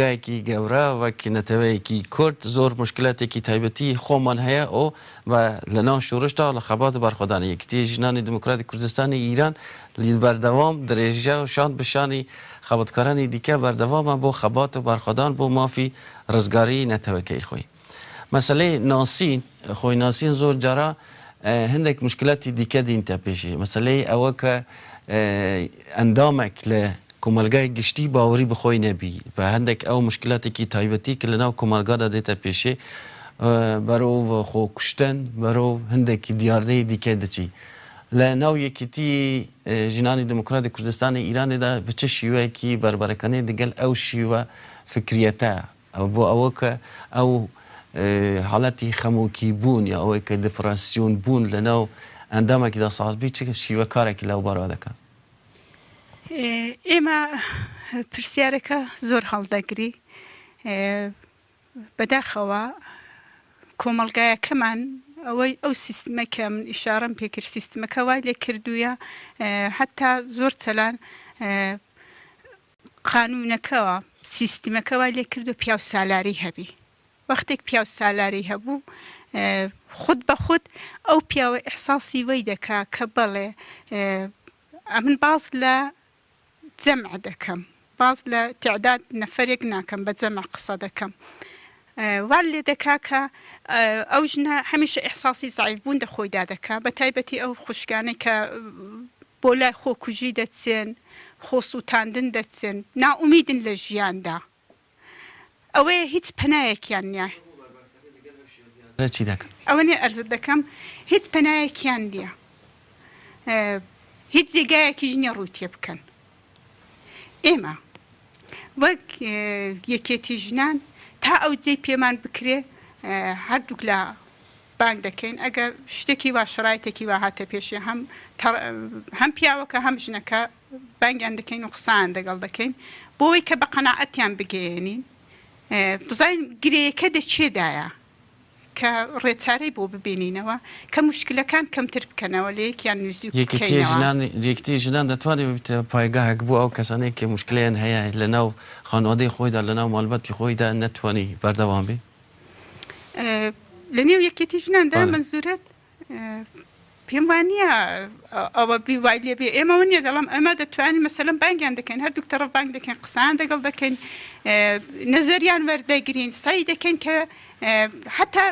گایکی گەورە وەک نەتەوەیەکی کورد زۆر موشکلاتێکی تایبەتی خۆمان هەیە و بە لە ناو شورشدا و لە خەبات و بەرخۆدانی یەکیتی ژنانی دیموکراتی کوردستانی ئیران لید بەردەوام درێژە و شان بە شانی خەباتکارانی دیکە بەردەوامە بۆ خەبات و بەرخۆدان بۆ مافی رزگاریی نەتەوەکەی خۆی. مەسەلەی ناسین، خۆی ناسین زۆر جارا هەندێک مشکلاتی دیکە دینتە پێشی، مەسەلەی ئەوە کە ئەندامێک لە کۆمەلگای گشتی باوەری بە خۆی نەبی، بە هەندێک ئەو مشکلاتێکی تایبەتی کە لە ناو کۆمەلگادا دێتە پێشێ، بەرەو خۆ کوشتن، بەرەو هەندێک دیاردەی دیکە دەچی. لە ناو یەکێتی ژنانی دێمۆکراتی کوردستانی ئیرانێدا بە چ شیوەیەکی بەربەرەکانی دەگەل ئەو شیوە فکریەتە ئەوە بۆ ئەوە کە ئەو حاڵەتی خەمۆکی بوون یا ئەوەی کە دپڕسیۆن بوون لە ناو ئەندامێکیدا ساز بی چ شیوە کارێکی لەو بارەوە دەکەن؟ ئێمە پرسیارەکە زۆر هەڵدەگری بەداخەوە کۆمەڵگایەکەمان ئەوەی ئەو سیستمە کە من ئیشارم پێکرد سیستمەکە وای لێ کردوویە حتا زۆر چەلان قانونەکەوە سیستمەکە وای لێ کردوە پیاو سالاری هەبی وەختێک پیاو سالاری هەبوو خود بە خود ئەو پیاوە ئیحساسی وەی دەکا کە بەڵێ ئەمن باز لە جەمع دەکەم باز لە تعداد نەفەرێک ناکەم بە جەمع قسە دەکەم واللە دە کاکە ئەو ژنە هەمیشە ئیحساسی زەعیف بوون دە خۆیدا دەکا بە تایبەتی ئەو خوشکانەی کە بۆ لای خۆ کوژی دەچن خۆ سووتاندن دەچن نائومیدن لە ژیاندا ئەوەیە هیچ پەنایەکیان نیە ئەوە نیە ئەرزت دەکەم هیچ پەنایەکیان نیە هیچ جێگایەکیش نیە ڕووی تێ بکەن. ئێمە وەک یەکێتی ژنان تا ئەو جێ پێمان بکرێ هەردووک لە بانگ دەکەین ئەگەر شتێکی وا شڕایتێکی وا هاتە پێشێ هەم هەم پیاوەکە هەم ژنەکە بانگیان دەکەین و قسان دەگەڵ دەکەین بۆی کە بە قەنەعەتیان بگەێنین بزانین گرەیەکە دەچێدایە کە ڕێچارەی بۆ ببینینەوە، کە موشکلەکان کەمتر بکەنەوە، لە یەکیان نزیک بکەینەوە. یەکیتی ژنان دەتوانێت ببێتە پایگاهێک بۆ ئەو کەسانەی کە موشکلەیان هەیە لەناو خانوادەی خۆیدا، لەناو مالباتی خۆیدا نەتوانی بەردەوام بێت؟ لەنێو یەکیتی ژناندا، مەنزورت پێم وانییە ئەوە بی وای لێ بێ ئێمەوە نیە دەڵام ئەمە دەتوانین مەسەلەن بانگیان دەکەین هەردوو تەڕەف بانگ دەکەین قسان دەگەڵ دەکەین نەزەریان وەردەگرین سەی دەکەین کە حتا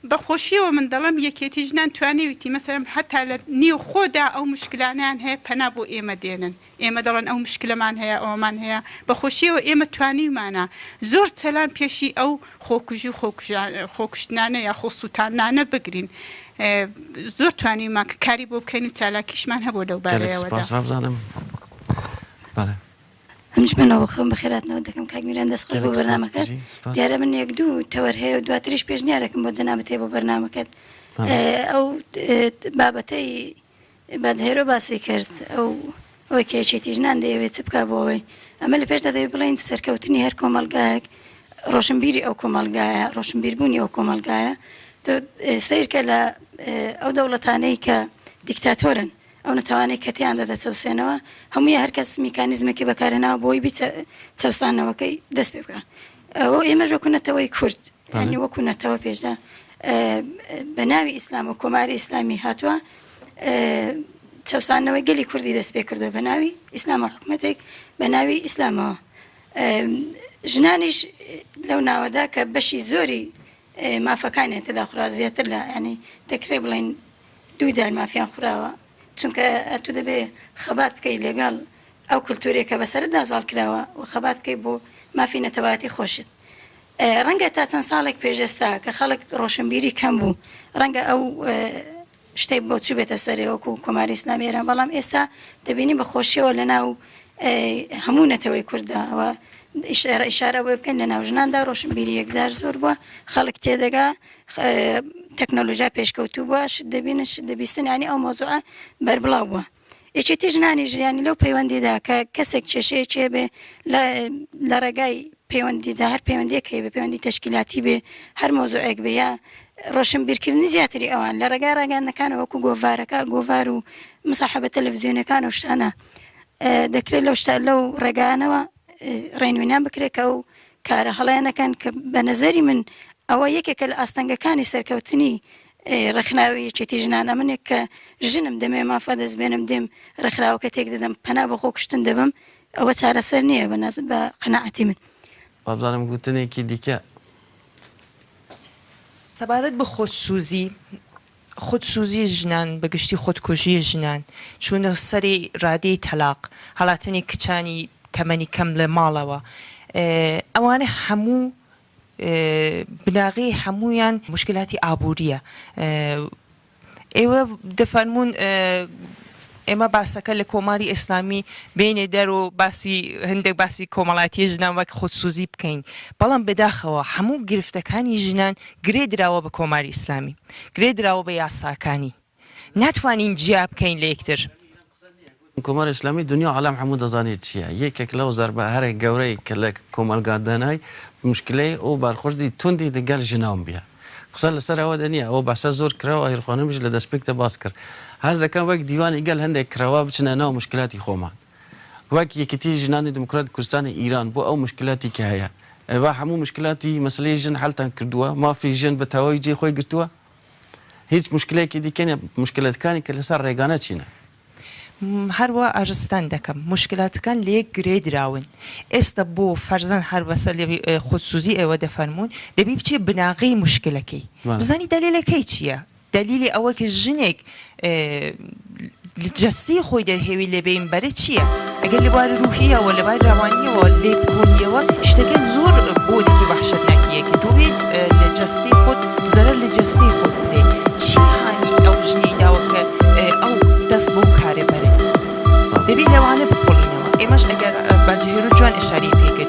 بەخۆشیەوە من دەڵم یەکێتی ژنان توانێویتی مەسەرم حتا لە نێو خۆدا ئەو مشکلانیان هەیە پەنا بۆ ئێمە دێنن ئێمە دەڵێن ئەو مشکلەمان هەیە ئەوەمان هەیە بەخۆشیەوە ئێمە توانیومانە زۆر چەلان پێشی ئەو خۆکوژی خۆکوشتنانە یا خۆسووتانانە بگرین زۆر توانیمان کە کاری بۆ بکەین و چالاکیشمان هەبوو لەو بارەوەزانم. منش منەوە خم بە خێراتنەوە دەکەم کاگمیران دەست خۆش بۆ بەرنامەکە دیارە من یەک دوو تەوەر هەیە و دواتریش پێشنیارەکەم بۆ جەنابەتێ بۆ بەرنمەکەت ئەو بابەتەی بادهێرۆ باسی کرد، ئەو ئەوەی کە یەکێتی ژنان دەیەوێت چ بکات بۆ ئەوەی، ئەمە لە پێشدا دەبێت بڵێین سەرکەوتنی هەر کۆمەڵگایەک ڕۆشنبیری ئەو کۆمەڵگایە، ڕۆشنبیربوونی ئەو کۆمەڵگایە، تۆ سەیرکە لە ئەو دەوڵەتانەی کە دیکتاتۆرن ئەو نەتەوانەی کە تێیاندا دەچەوسێنەوە هەمووی هەرکەس میکانیزمێکی بەکارهێناوە بۆی بیچە چەوسانەوەکەی دەست پێ بکە ئەوە ئێمەش وەکو نەتەوەی کورد یانی وەکو نەتەوە پێشدا بە ناوی ئیسلام و کۆماری ئیسلامی هاتووە چەسانەوەی گەلی کوردی دەست پێ کردو بە ناوی ئیسلام و حکوومەتێک بە ناوی ئیسلامەوە ژنانیش لەو ناوەدا کە بەشی زۆری مافەکانیان تێدا خورا زیاتر لە ینی دەکرێ بڵین دوو جار مافیان خوراوە چونکە ئەتوو دەبێ خەبات بکەی لەگەڵ ئەو کلتورەی کە بەسەرتدا زاڵ کراوە و خەبات بکەی بۆ مافی نەتەوایەتی خۆشت. ڕەنگە تا چەند ساڵێک پێش ئێستا کە خەڵک ڕۆشنبیری کەم بوو ڕەنگە ئەو شتەی بۆ چوبێتە سەرێ وەکو کۆماری ئیسلامی ئێران بەڵام ئێستا دەبینی بە خۆشیەوە لە ناو هەموو نەتەوەی کورددا ئەوە ئیشارە ئیشارە بۆ بکەن لە ناو ژناندا ڕۆشنبیری یەکجار زۆر بووە خەڵک تێدەگا تەکنەلۆژیا پێشکەوتوو بووە شت دەبینن شت دەبیستن ینی ئەو مۆزوعە بەربڵاو بووە یەکێتی ژنانی ژیانی لەو پەیوەندیدا کە کەسێک کێشەیەکێ بێ لە ڕێگای پەیوەندی جا هەر پەیوەندیەکەی بە پەیوەندی تشکیلاتی بێ هەر مۆزوعێک بێ یا ڕۆشن بیرکردنی زیاتری ئەوان لە ڕێگای ڕاگەاندەکان وەکو گۆڤارەکە گۆڤار و مساحبە تەلەڤزیۆنەکان و شتانە دەکرێت لەو شتا لەو ڕێگانەوە ڕێنوینان بکرێت کە و کارە هەڵەیانەکان کە بە نەزەری من ئەوە یەکێکە لە ئاستەنگەکانی سەرکەوتنی ڕێکخراوی یەکێتی ژنان ئەمنێک کە ژنم دەمێ مافە دەست بێنم دێم ڕێکخراوەکە تێک دەدەم پەنا بە خۆ کوشتن دەبم ئەوە چارەسەر نییە بە ناز بە قەنەعەتی من وابزانم گوتنێکی دیکە. سەبارەت بە خۆسوزی خودسوزی ژنان بە گشتی خودکوژی ژنان، چوونە سەری رادەی تەلاق، هەڵاتنی کچانی تەمەنی کەم لە ماڵەوە ئەوانە هەموو بناغەی هەموویان موشکیلاتی ئابوورییە ئێوە دەفەرموون ئێمە باسەکە لە کۆماری ئێسلامی بێینە دەر و باسی هەندێک باسی کۆمەڵایەتیە ژنان وەک خودسوزی بکەین بەڵام بەداخەوە هەموو گرفتەکانی ژنان گرێ دراوە بە کۆماری ئیسلامی گرێ دراوە بە یاساکانی ناتوانین جیا بکەین لە یەکتر. کۆماری ئیسلامی دونیا و عالەم هەموو دەزانێت چیە یەکێک لەو زەربە هەرە گەورەی کە لە کۆمەڵگا دەنای موشکلەی ئەو بەرخوردی توندی دەگەل ژنان بیە. قسە لەسەر ئەوە دە نیە ئەوە بەحسە زۆر کرا و ئاهیر خانمیش لە دەسپێکدا باس کرد حەز دەکەم وەک دیوانی گەل هەندێک کرەوە بچنە ناو مشکلاتی خۆمان وەک یەکێتی ژنانی دیموکراتی کوردستانی ئیران بۆ ئەو مشکلاتی کە هەیە ئێوە هەموو مشکلاتی مەسلەی ژن حەلتان کردووە مافی ژن بە تەواوی جێ خۆی گرتووە هیچ مشکلەیەکی دیکە نیە مشکلەتکانی کە لەسەر ڕێگانە چینە هەروا ئارستان دەکەم موشکلاتەکان لەیەک گرێ دراون ئێستا بۆ فەرزەن هەر بەسە لێوی خودسوزی ئێوە دەفەرموون دەبی بچی بناغەی موشکلەکەی بزانی دەلیلەکەی چیە دەلیلی ئەوەک ژنێک جەستەی خۆی دەرهێوی لێبێین بەرە چیە؟ ئەگەر لە بواری رووهییەوە، لە باری روانییەوە لێکبوونییەوە شتەکە زۆر بۆنێکی وەحشەتناکییە کە تۆ بێیت لە جەستەی خۆت زەرەر لە جەستەی خۆت بدەیت. چی هانی ئەو ژنەی داوە کە ئەو دەست بەو کارە بەرێت؟ دەبێت لەوانە بکۆڵینەوە. ئێمەش ئەگەر باجی هێرۆ جوان ئشارەی پێ کرد.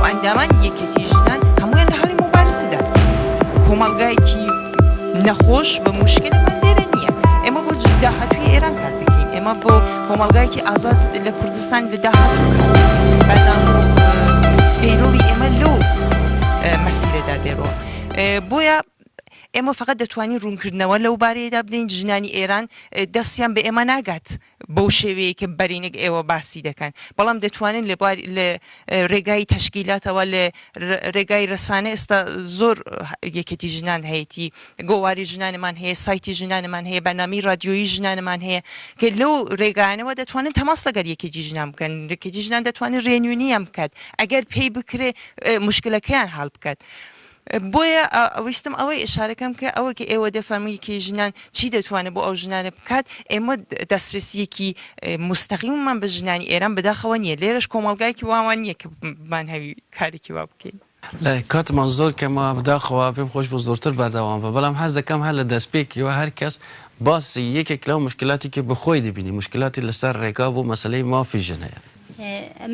و ئەندامانی یەکێتی ژنان هەموویان لە هەڵی موبارزدان. کۆمەڵگایەکی نەخۆش بە موشکەلی من لێرە نییە. ئێمە بۆ داهاتووی ئێران کار دەکەین. ئێمە بۆ کۆمەڵگایەکی ئازاد لە کوردستان لە داهاتوو کار دەکەین. بەردەوام بوون. پەیرەوی ئێمە لەو مەسیرەدا دێرۆ. بۆیە ئێمە فەقەت دەتوانین ڕوونکردنەوە لەو بارەیەدا بدەین. ژنانی ئێران دەستیان بە ئێمە ناگات. بەو شێوەیەی کە بەرینگ ئێوە باسی دەکەن، بەڵام دەتوانن لە بوار لە رێگای تەشکیلاتەوە لە رێگای رەسانە ئێستا زۆر یەکێتی ژنان هەیەتی گۆواری ژنانمان هەیە سایتی ژنانمان هەیە بەنامی رادیۆیی ژنانمان هەیە کە لەو رێگایانەوە دەتوانن تەماس لەگەر یەکێتی ژنان بکەن رێکێتی ژنان دەتوانن رێنوێنیان بکات ئەگەر پێی بکرێ مشکلەکەیان هەڵ بکات. بۆیە ویستم ئەوەی ئشارە کەم کە ئەوە کە ئێوە دەفەرموویەکەی ژنان چی دەتوانێت بۆ ئەو ژنانە بکات ئێمە دەسترسیەکی مستەقیممان بە ژنانی ئێران بەداخەوە نییە لێرەش کۆمەلگایکی واوان نییە کە بمان هەوی کارێکی وا بکەین. کاتمان زۆر کەمە بداخەوە پێم خۆش بوو زۆرتر بەردەوام بە بەڵام حەز دەکەم هەر لە دەستپێکیوە هەر کەس باسی یەکێک لەو مشکلاتی کە بە خۆی دەبینی مشکلاتی لەسەر ڕێگا بۆ مەسەلەی مافی ژن هەیە.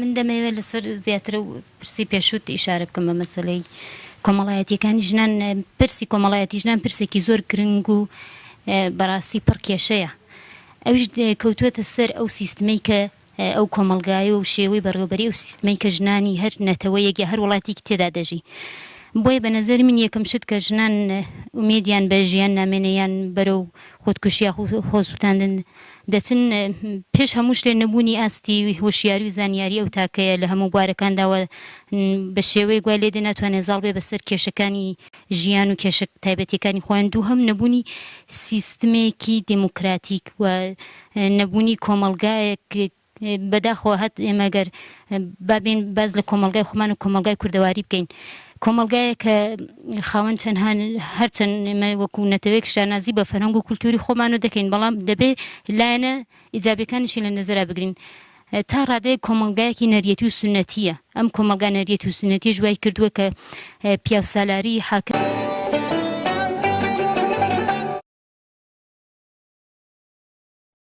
من دەمەوێت لەسەر زیاترە و پرسی پێشوت ئیشارە بکەم بە مەسەلەی کۆمەڵایەتیەکانی ژنان پرسی کۆمەڵایەتی ژنان پرسێکی زۆر گرنگ و بەڕاستی پڕ کێشەیە ئەوش کەوتوێتە سەر ئەو سیستمەی کە ئەو کۆمەلگای و شێوەی بەڕێوبەری و سیستمەی کە ژنانی هەر نەتەوە یەک یا هەر وڵاتیکی تێدا دەژی بۆیە بە نەزەر من یەکەم شت کە ژنان ئومێدیان بە ژیان نامێنەیان بەرەو خودکوشیا خۆسووتاندن دەچن، پێش هەموو شتێ نەبوونی ئاستی هۆشیاری و زانیاری ئەو تاکەیە لە هەموو بوارەکاندا و بە شێوەیەک وای لێدێ ناتوانێ زاڵ بێ بەسەر کێشەکانی ژیان و کێشە تایبەتیەکانی خۆیان، دووهەم نەبوونی سیستمێکی دێمۆکراتیک و نەبوونی کۆمەڵگایەک بەداخەوە هەت ئێمە گەر با بێین باس لە کۆمەڵگای خۆمان و کۆمەڵگای کوردەواری بکەین کۆمەڵگایە کە خاوەن چەند هان هەرچەند ئێمە وەکو نەتەوەیەک شانازی بە فەرهەنگ و کولتوری خۆمانەوە دەکەین بەڵام دەبێ لایەنە ئیجابیەکانیشی لە نەزەرا بگرین تا ڕادەیە کۆمەڵگایەکی نەریەتی و سنەتیە ئەم کۆمەڵگا نەریەتی و سنەتیش وای کردووە کە پیاوسالاری حاکم